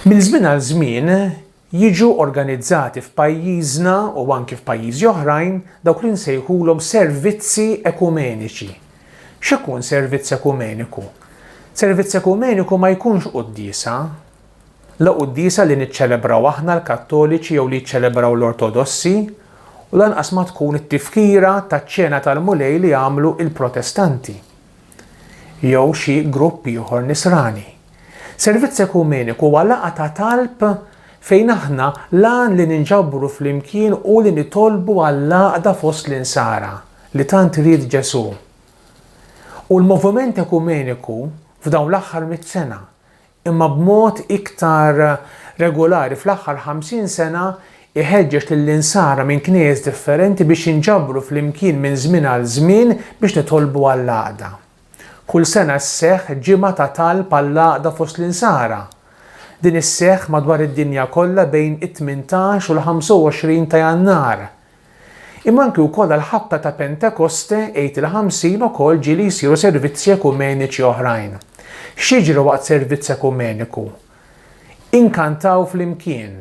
Minn żmien għal żmien jiġu organizzati f'pajjiżna u anki f'pajjiżi oħrajn dawk li nsejħulhom servizzi ekumeniċi. X'ikun servizz ekumeniku? Servizz ekumeniku ma jkunx quddiesa. La quddiesa li niċċelebraw aħna l-Kattoliċi jew li jiċċelebraw l-Ortodossi u lanqas ma tkun it-tifkira taċ-Ċena tal-Mulej li jagħmlu il-Protestanti. jew xi grupp ieħor nisrani. Servizz ekumeniku huwa laqgħa ta' talb fejn aħna l-għan li ninġabru flimkien hu li nitolbu għall-għaqda fost l-insara li tant ried Ġesù. U l-moviment ekumeniku f'dawn l-aħħar mitt sena imma b'mod iktar regolari fl-aħħar 50 sena jħeġġeġ lill-Insara minn Knejjes differenti biex jinġabru flimkien minn żmien għal żmien biex nitolbu għall-għaqda. Kull sena sseħħ ġimgħa ta' talb għall-għaqda fost l-Insara. Din sseħħ madwar id-dinja kollha bejn it-18 u l-25 ta' Jannar. Imma anki wkoll għall-ħabta ta' Pentekoste, Għid il-Ħamsin ukoll ġieli jsiru servizzi ekumeniċi oħrajn. X'jiġri waqt servizz ekumeniku? Inkantaw flimkien.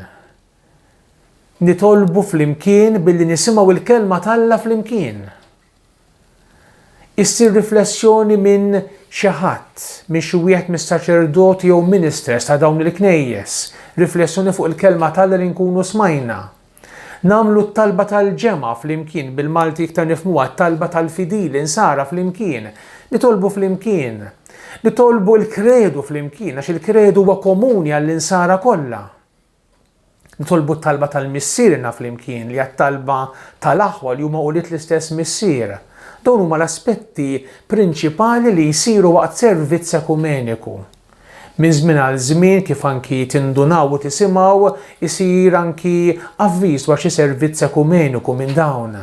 Nitolbu flimkien billi nisimgħu l-Kelma t'Alla flimkien. Issir riflessjoni minn xi ħadd, minn xi wieħed mis-saċerdoti jew ministers ta' dawn il-Knejjes, riflessjoni fuq il-Kelma t'Alla li nkunu smajna. Nagħmlu t-talba tal-ġemgħa flimkien, bil-Malti iktar nifhmuha t-talba tal-fidili nsara flimkien, nitolbu flimkien. Nitolbu l-Kredu flimkien għax il-Kredu huwa komuni għall-insara kollha. Nitolbu t-talba tal-Missier inna flimkien li għat-talba tal-aħwa li huma ulied l-istess Missier. Dawn huma l-aspetti prinċipali li jsiru waqt servizz ekumeniku. Minn żmien għal żmien, kif anki tindunaw u tisimgħu, isir anki avviż dwar xi servizz ekumeniku minn dawn.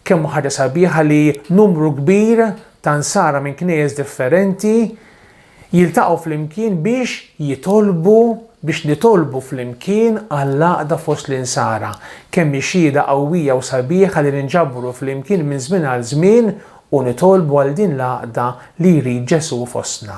Kemm hu ħaġa sabiħa li numru kbir ta' Nsara minn knejjes differenti jiltaqgħu flimkien biex jitolbu, biex nitolbu flimkien għall-għaqda fost l-Insara. Kemm hi xhieda qawwija u sabiħa li ninġabru flimkien minn żmien għal żmien u nitolbu għal din l-għaqda li jrid Ġesù fostna.